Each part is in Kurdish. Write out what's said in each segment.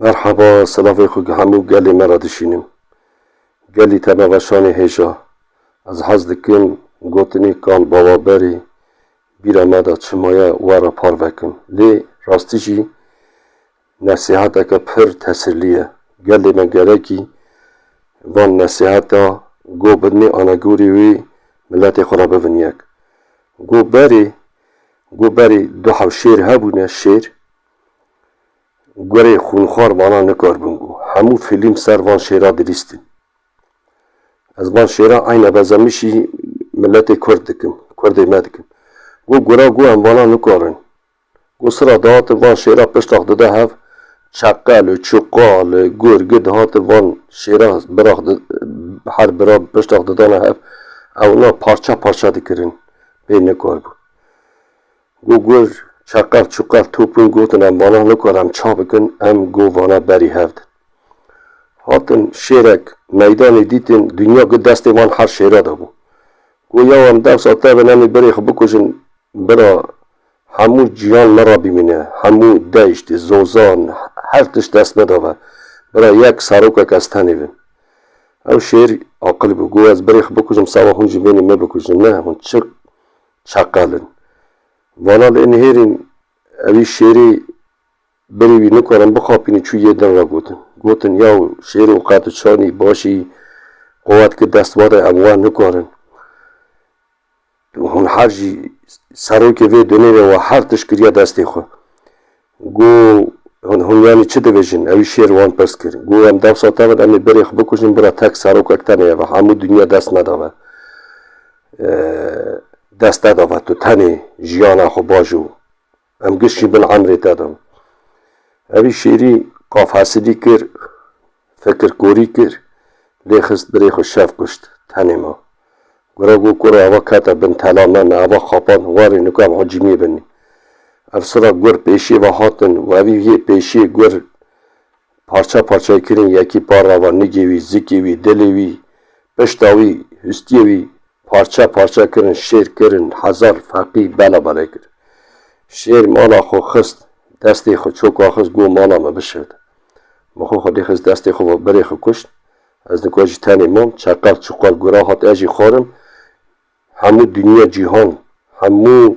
Merhaba, selavê xwe gi hemû gelê me re dişînim. Gelî te me ve şanê hêja. Ez hez dikim gotinê kal bawa berê bîra me de çi maye we re parve kim. Lê rastî jî nesîheteke pir tesirlî ye. Gelê me gerekî van nesîheta go bidinê anegorî wê miletê xwe re bibin yek. Go berê, go berê du hewşêr hebûne, şêr, Gurê xûnxwar vana nikaribûn ku hemû fîlm ser van şêra bivîstin. Ez van şêra eyne bezemişî miletê kurd dikim, kurdê me dikim. Got gura got em vana nikarin. Got sira dihatin van şêra piştax dide hev çeqe li çuqa li gur gir dihatin van şêra birax her bira piştax didana hev ewna parça parça dikirin pê nikaribûn. Go gur, çeqev, çuqev, topûn gotin em vala nikare em ça bikin, em go vana berî hev din. Hatin şêrek, meydanê dîtin, dinya gi destê wan her şêra de bû. Go yaw em dewsa tevin em ê birê xwe bikujin, bira hemû cîhan me re bimîne, hemû deşt, zozan, her tişt dest me de be, bira yek serokek ez tenê bim. Ew şêr aqil bû, go ez birê xwe bikujim seba hûn jî bên ê me bikujin, ne hûn çi Çakal in. Vala lê nihêrîn ewî şêrê berî wî nikarin bixapînî çû yê din re gotin. Gotin yaw şêro qe tu çanî başî qewet ki dest vade em we nikarin. Hûn her jî serokê vê dunê re we her tişt kiriye destê xwe. Go hûn yanî çi dibêjin? Ewî şêr wan pirs kir. Go em dewsa tevin em ê berê xwe bikujin bira tek serokek tenê ye ve hemû dinya dest neda ve. Dest neda ve tu tenê jiyana xwe baş û em giş jî bin emrê te din. Ewî şêrî qafhesilî kir. Fekir korî kir, lê xist birê xwe şev kuşt. Tenê ma. Gura got ku re ava kete bin tela me, me ava xapand, warê nukan hocîmiyê binî. Ev sira gur pêşiyê ve hatin û evî yê pêşiyê gur parça parçayê kirîn, yekî par re ava nigê wî, zikê wî, dilê wî, pişta wî, hustiyê wî, Parçe parçe kirin, şêr kirin, hezar feqî bela belê kir. Şêr mala xwe xist destê xwe, çoka xist got mala me bişird. Min xwe xwedî xist destê xwe ve, birê xwe kuşt. Ez nikwa jî tenê mam, çeqel çuqel guran hat ez jî xwarin. Hemû dinya cîhan, hemû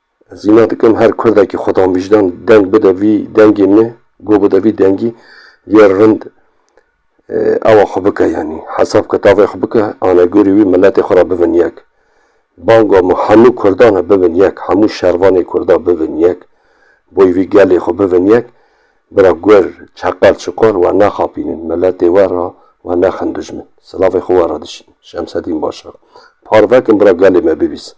Ez îna dikim her kurdekî xwedanvîjdan deng bide vî dengê me, guh bide vî dengî yê rind awa xwe bike yanî hesab kitavê xwe bike anegorî wî miletê xwe ra bibin yek. Banga me hemû kurdan e bibin yek, hemû şervanê kurda bibin yek, boy vî gelê xwe bibin yek. Bira gur, çeqal, çiqal we nexapînin miletê we ra we nexin dijmin. Silavê xwe we ra dişînin. Şemsedîn Başar. Parve kin bira gelê me bibîsin.